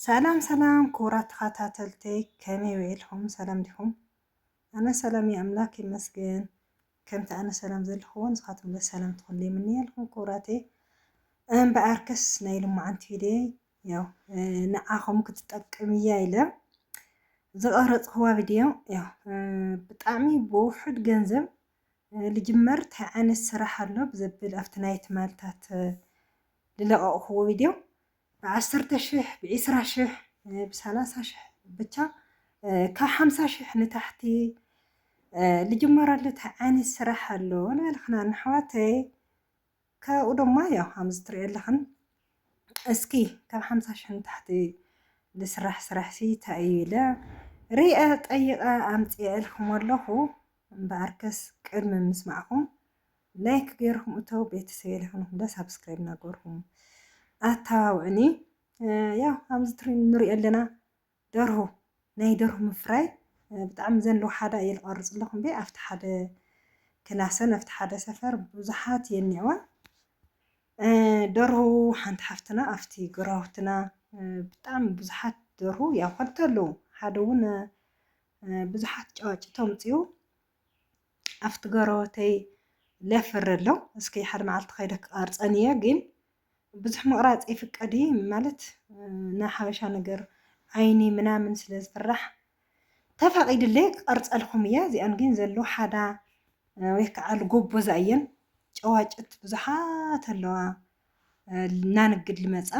ሰላም ሰላም ክቡራት ተኸታተልተይ ከመይ ውዒልኩም ሰላም ዲኹም? ኣነ ሰላም እየ ኣምላክ ይመስገን። ከምቲ ኣነ ሰላም ዘለኹዎን ንስኻትኩም ለ ሰላም ትኹን ይምንየልኩም ክቡራተይ። እምበኣርከስ ናይ ልሙዓንቲ ቪድዮ ያው ንዓኹም ክትጠቅም እያ ኢለ ዝቐረፅኽዋ ቪድዮ ያው ብጣዕሚ ብውሑድ ገንዘብ ልጅመር እንታይ ዓይነት ስራሕ ኣሎ ብዘብል ኣብቲ ናይ ትማልታት ዝለቐቕኽዎ ቪድዮ ብዓሰርተ ሽሕ ብዒስራ ሽሕ ብሳላሳ ሽሕ ብቻ ካብ ሓምሳ ሽሕ ንታሕቲ ልጅመረሉት ዓይነት ስራሕ ኣሎ ንበልክና ንኣሕዋተይ ካብኡ ድማ ያው ከምዚ ትሪኦ ኣለኽን እስኪ ካብ ሓምሳ ሽሕ ንታሕቲ ልስራሕ ስራሕ ሲ እንታይ እዩ ኢለ ሪአ ጠይቐ ኣምፅኤ እልክሞ ኣለኹ እምበኣርከስ ቅድሚ ምስማዕኹም ላይክ ገይርኩም እተው ቤተሰብ የለክንኩም ደ ሳብስክራይብ እናገርኩም ኣተባብዕኒ ያው ኣብዚ ትሪ ንሪኦ ኣለና ደርሁ ናይ ደርሁ ምፍራይ ብጣዕሚ ዘን ሓደ እየ ዝቐርፅ ኣለኹ እምበይ ኣብቲ ሓደ ክላሰን ኣብቲ ሓደ ሰፈር ብዙሓት የኒዕዋ ደርሁ ሓንቲ ሓፍትና ኣብቲ ግራውትና ብጣዕሚ ብዙሓት ደርሁ ያው ከልተ ኣለዉ ሓደ እውን ብዙሓት ጨዋጭቶ ምፅኡ ኣብቲ ገረወተይ ለፍሪ ኣሎ እስኪ ሓደ መዓልቲ ከይደ ክቐርፀን እየ ግን ብዙሕ ምቕራፅ ይፍቀድ እዩ ማለት ናይ ሓበሻ ነገር ዓይኒ ምናምን ስለ ዝፍራሕ ተፈቒድለይ ክቐርፀልኩም እየ እዚኣን ግን ዘሎ ሓዳ ወይ ከዓ ልጎቦዛ እየን ጨዋጭት ብዙሓት ኣለዋ እናንግድ ልመፃ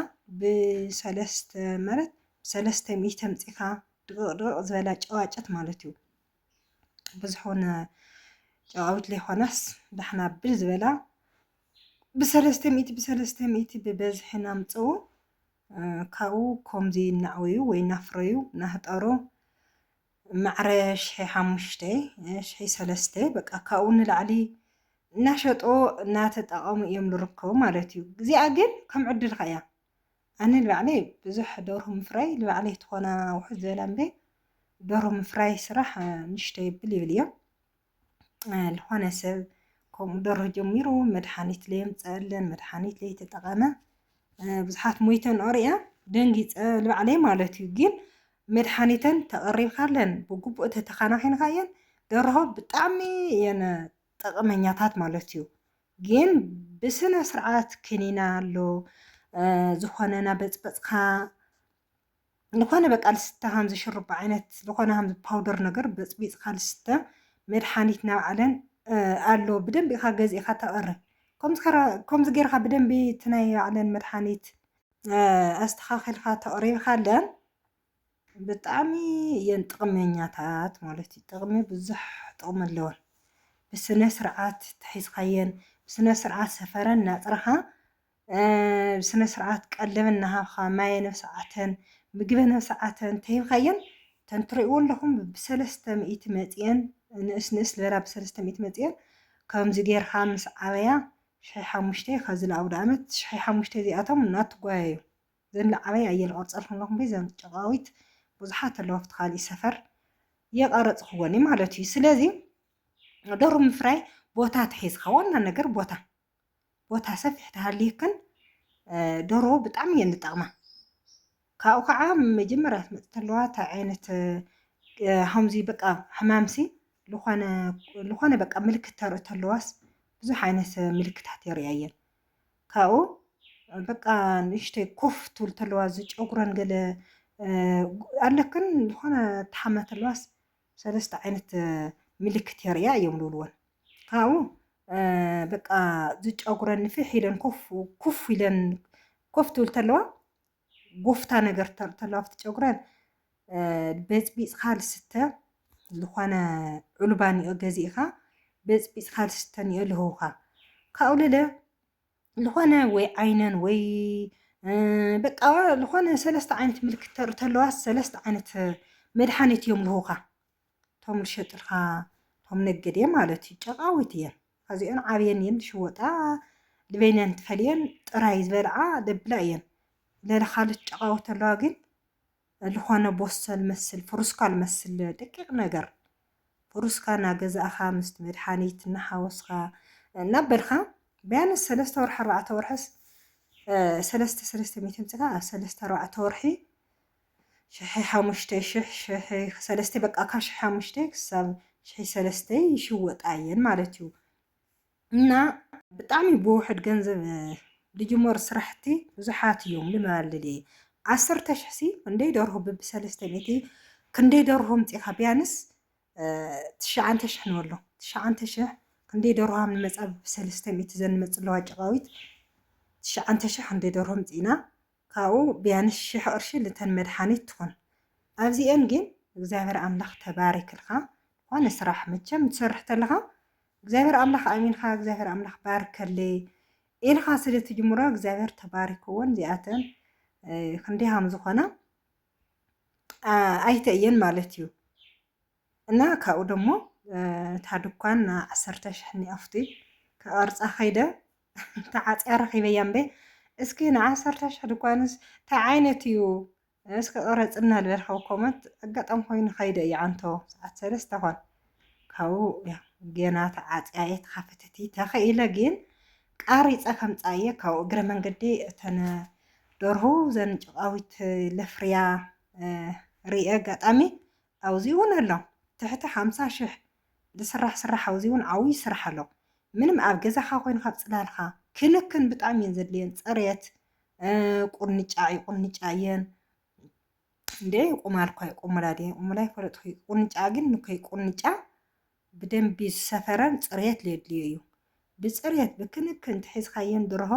ብሰለስተ ማለት ብሰለስተ ሚእቲ ኣምፂኻ ድቕቕ ድቕቕ ዝበላ ጨዋጭት ማለት እዩ ብዝኾነ ጨቓዊት ለይኾነስ ዳሕና ብል ዝበላ ብሰለስተ ሚእቲ ብሰለስተ ሚእቲ ብበዝሒ ናምፅኡ ካብኡ ከምዚ እናዕወዩ ወይ እናፍረዩ ናህጠሩ ማዕረ ሽሒ ሓሙሽተ ሽሒ ሰለስተ በቃ ካብኡ ንላዕሊ እናሸጦ እናተጠቐሙ እዮም ዝርከቡ ማለት እዩ። እዚኣ ግን ከም ዕድልካ እያ ኣነ ልባዕለይ ብዙሕ ደርሁ ምፍራይ ልባዕለይ ትኾና ውሕድ ዝበላ እምበይ ደርሁ ምፍራይ ስራሕ ንሽቶ ይብል ይብል እዮም ልኾነ ሰብ ከምኡ ደርሁ ጀሚሩ መድሓኒት ለየምፀአለን መድሓኒት ለይተጠቐመ ብዙሓት ሞይተን ኦርያ ደንጊፀ ልባዕለይ ማለት እዩ ግን መድሓኒተን ተቐሪብካለን ብግቡእ ተተኻናኺንካ እየን ደርሆ ብጣዕሚ እየን ጠቐመኛታት ማለት እዩ ግን ብስነ ስርዓት ክኒና ኣሎ ዝኾነ ናበፅበፅካ ዝኾነ በቃ ልስተ ሃምዚ ሽሩባ ዓይነት ዝኾነ ሃምዚ ፓውደር ነገር በፅቢፅካ ልስተ መድሓኒት ናብዓለን ኣሎ ብደንቢ ኢኻ ገዚእኻ ተቐሪ ከምዚ ጌርካ ብደንቢ እቲ ናይ ባዕለን መድሓኒት ኣስተኻኺልካ ተቕሪብካለን ብጣዕሚ እየን ጥቕመኛታት ማለት እዩ። ጥቕሚ ብዙሕ ጥቕሚ ኣለወን። ብስነ ስርዓት ተሒዝካየን ብስነ ስርዓት ሰፈረን እናፅራኻ ብስነ ስርዓት ቀለበን እናሃብኻ ማየን ኣብ ሰዓተን ምግበን ኣብ ሰዓተን እንተሂብካየን እተን ትሪእዎ ኣለኹም ብሰለስተ ሚእቲ መፂኤን ንእስ ንእስ ዝበላ ብሰለስተ ሚእቲ መፂኤን ከምዚ ጌርካ ምስ ዓበያ ሽሒ ሓሙሽተ ካብዚ ንኣውደ ዓመት ሽሒ ሓሙሽተ እዚኣቶም እናትጓየዩ ዘንለዓበይ ኣየ ልቐርጸልኩም ኣለኹ እምበይ እዘን ጨቓዊት ብዙሓት ኣለዋ ኣብቲ ካሊእ ሰፈር የቐረጽኽወን እዩ ማለት እዩ ስለዚ ደሩ ምፍራይ ቦታ ተሒዝካ ዋና ነገር ቦታ ቦታ ሰፊሕ ተሃልየክን ደርሆ ብጣዕሚ እየን ዝጠቕማ ካብኡ ከዓ መጀመርያ ትመፅ ተለዋ እቲ ዓይነት ከምዚ በቃ ሕማምሲ ዝኾነ በቃ ምልክት ተርኢ ተለዋስ ብዙሕ ዓይነት ምልክታት የርእያ እየን ካብኡ በቃ ንእሽተይ ኮፍ ትብል ተለዋ እዚ ጨጉረን ገለ ኣለክን ዝኾነ ተሓመ ተለዋስ ሰለስተ ዓይነት ምልክት የርእያ እዮም ዝብልወን ካብኡ በቃ ዝጨጉረን ንፍሕ ኢለን ኮፍ ኩፍ ኢለን ኮፍ ትብል ተለዋ ጎፍታ ነገር ተሎ ኣብቲ ጨጉረን በፅቢፅካ ልስተ ዝኾነ ዑልባ ኒኦ ገዚእኻ በፅቢፅካ ልስተ ኒኦ ልህውኻ ካብኡ ልለ ዝኾነ ወይ ዓይነን ወይ በቃ ዝኾነ ሰለስተ ዓይነት ምልክት ተርኢ ተለዋ ሰለስተ ዓይነት መድሓኒት እዮም ልህውኻ እቶም ልሸጥልካ እቶም ነገዴ ማለት እዩ ጨቃዊት እየን ኣዚኦን ዓብየን እየን ልሽወጣ ልበይነን ትፈልየን ጥራይ ዝበልዓ ለብላ እየን ለለ ካልት ጨቃዊት ኣለዋ ግን ልኾነ ቦሶ ልመስል ፍሩስካ ልመስል ደቂቅ ነገር ፍሩስካ ናገዛእኻ ምስቲ መድሓኒት ናሓወስኻ ናበልካ ቢያንስ ሰለስተ ወርሒ ኣርባዕተ ወርሕስ ሰለስተ ሰለስተ ሚእቲ ኣምጺእካ ኣብ ሰለስተ ኣርባዕተ ወርሒ ሽሒ ሓሙሽተ ሽሕ ሽሒ ሰለስተይ በቃ ካብ ሽሒ ሓሙሽተ ክሳብ ሽሒ ሰለስተ ይሽወጣ እየን ማለት እዩ እና ብጣዕሚ ብውሕድ ገንዘብ ልጅመሩ ስራሕቲ ብዙሓት እዮም ልመልል ዓሰርተ ሽሕ ሲ ክንደይ ደርሆ ብቢ ሰለስተ ሚእቲ ክንደይ ደርሆ ምፅኻ ቢያንስ ትሽዓንተ ሽሕ ንበሎ ትሽዓንተ ሽሕ ክንደይ ደርሆ ሃም ንመፃ ብቢ ሰለስተ ሚእቲ ዘንመፅለዋ ጭቃዊት ትሽዓንተ ሽሕ ክንደይ ደርሆ ምፅኢና ካብኡ ቢያንስ ሽሕ ቅርሺ ልተን መድሓኒት ትኹን ኣብዚኤን ጊን እግዚኣብሔር ኣምላኽ ተባሪክልካ ዝኾነ ስራሕ መቸም ትሰርሕ ተለኻ እግዚኣብሔር ኣምላኽ ኣሚንካ እግዚኣብሔር ኣምላኽ ባርከለይ ኢልኻ ስለ ትጅምሮ እግዚኣብሔር ተባሪክወን ዚኣተን ክንደይ ሃም ዝኾና ኣይተ እየን ማለት እዩ። እና ካብኡ ደሞ እታ ድኳን ን ዓሰርተ ሽሕ ኒኣፉቲ ክቐርጻ ከይደ ተዓጽያ ረኺበያ እምበይ እስኪ ን ዓሰርተ ሽሕ ድኳንስ ታይ ዓይነት እዩ እስኪ ቅረጽልና ልበል ካብ ኮመንት ኣጋጣሚ ኮይኑ ከይደ እዩ ዓንቶ ሰዓት ሰለስተ ኮን ካብኡ ጌና ተዓጽያ እየ ተኸፈተቲ ተኸኢለ ግን ቃሪፀ ከምፃ እየ ካብኡ እግረ መንገዲ እተነ ደርሁ ዘን ጭቃዊት ለፍርያ ርየ ኣጋጣሚ ኣውዚኡውን ኣሎ ትሕቲ ሓምሳ ሽሕ ዝስራሕ ስራሕ ኣውዚኡውን ዓውዪ ስራሕ ኣሎ ምንም ኣብ ገዛኻ ኮይንኻ ፅላልኻ ክንክን ብጣዕሚ እየን ዘድልየን ፅሬት ቁንጫ ይቁንጫ እየን እንዴ ይቁማል እኳ ይቁሙላ ድየ እሙላ ይፈለጥኩ ቁንጫ ግን ንኮይ ቁንጫ ብደንቢ ዝሰፈረን ፅሬት ዘድልዮ እዩ ብፅሬት ብክንክን ትሒዝካየን ድርሆ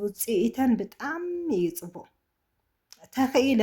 ውፅኢተን ብጣዕሚ እዩ ፅቡቅ ተኽኢለ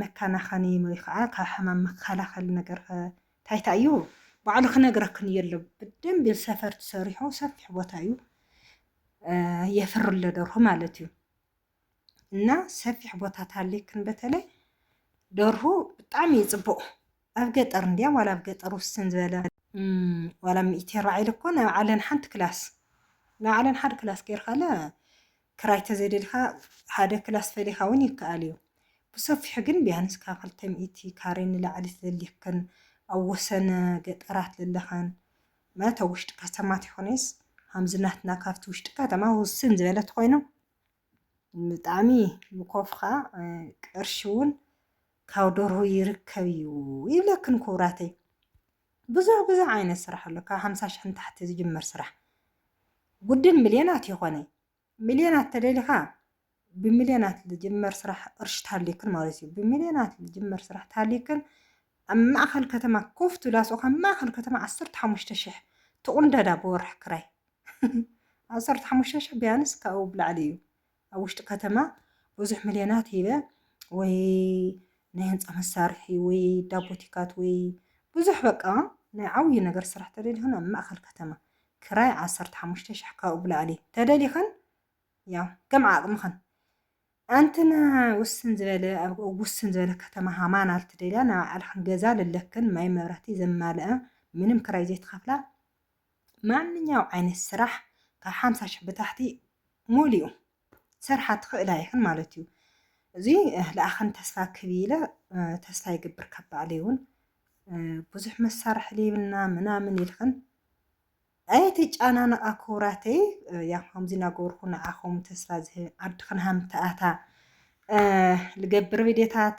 መካናኸኒ ወይ ኸዓ ካብ ሕማም መከላኸሊ ነገር ኸ ታይ ታይ እዩ? ባዕሉ ክነግረክን እየ ኣሎ ብደንቢ ሰፈር ትሰሪሖ ሰፊሕ ቦታ እዩ የፍር ለደርሆ ማለት እዩ እና ሰፊሕ ቦታ ታሌክን በተለይ ደርሁ ብጣዕሚ እዩ ፅቡቕ ኣብ ገጠር እንድያ ዋላ ኣብ ገጠር ውስን ዝበለ ዋላ ሚእቲ ራዒ ልኮ ናይ ባዕለን ሓንቲ ክላስ ናይ ባዕለን ሓደ ክላስ ጌርካለ ክራይ ተዘይደሊኻ ሓደ ክላስ ፈሊኻ ውን ይከኣል እዩ ብሰፊሑ ግን ቢያንስ ካብ ክልተ ሚእቲ ካሬ ንላዕሊ ተደሊኽክን ኣብ ወሰነ ገጠራት ለለኽን ማለት ኣብ ውሽጢ ከተማ ተይኮነይስ ሃምዚ ናትና ካብቲ ውሽጢ ከተማ ውስን ዝበለ ተኾይኑ ብጣዕሚ ምኮፍኻ ቅርሺ ውን ካብ ደርሁ ይርከብ እዩ ይብለክን ኩብራተይ። ብዙሕ ብዙሕ ዓይነት ስራሕ ኣሎ ካብ ሓምሳ ሽሕ ንታሕቲ ዝጅመር ስራሕ ጉድን ሚልዮናት ይኾነ ሚልዮናት ተደሊኻ ብሚልዮናት ዝጅመር ስራሕ ቅርሺ ታሊክን ማለት እዩ ብሚልዮናት ዝጅመር ስራሕ ታሊክን ኣብ ማእኸል ከተማ ኮፍ ትብል ኣስኡ ካብ ማእኸል ከተማ ዓሰርተ ሓሙሽተ ሽሕ ትቑንደዳ ብወርሒ ክራይ ዓሰርተ ሓሙሽተ ሽሕ ቢያንስ ካብኡ ብላዕሊ እዩ ኣብ ውሽጢ ከተማ ብዙሕ ምልዮናት ሂበ ወይ ናይ ህንጻ መሳርሒ ወይ ዳቦቲካት ወይ ብዙሕ በቃ ናይ ዓብዩ ነገር ስራሕ ተደሊኹን ኣብ ማእከል ከተማ ክራይ ዓሰርተ ሓሙሽተ ሽሕ ካብኡ ብላዕሊ ተደሊኸን ያው ከም ዓቕምኸን ኣንትና ውስን ዝበለ ኣብ ውስን ዝበለ ከተማ ሃማን ኣልትደልያ ናብ ዓልኸን ገዛ ልለክን ማይ መብራህቲ ዘማልኣ ምንም ክራይ ዘይትኸፍላ ማንኛው ዓይነት ስራሕ ካብ ሓምሳ ሽሕ ብታሕቲ ሙሊኡ ሰርሓ ትኽእል ኣይኽን ማለት እዩ እዚ ለኣኸን ተስፋ ክብ ኢለ ተስፋ ይግብር ካብ ባዕለይ እውን ብዙሕ መሳርሒ ሌብና ምናምን ኢልኽን ኣይትጨናነቓ ክቡራተይ ያ ከምዚ እናገበርኩ ንዓኹም ተስፋ ዝህብ ዓድኽን ሃምተኣታ ልገብር ቪድዮታት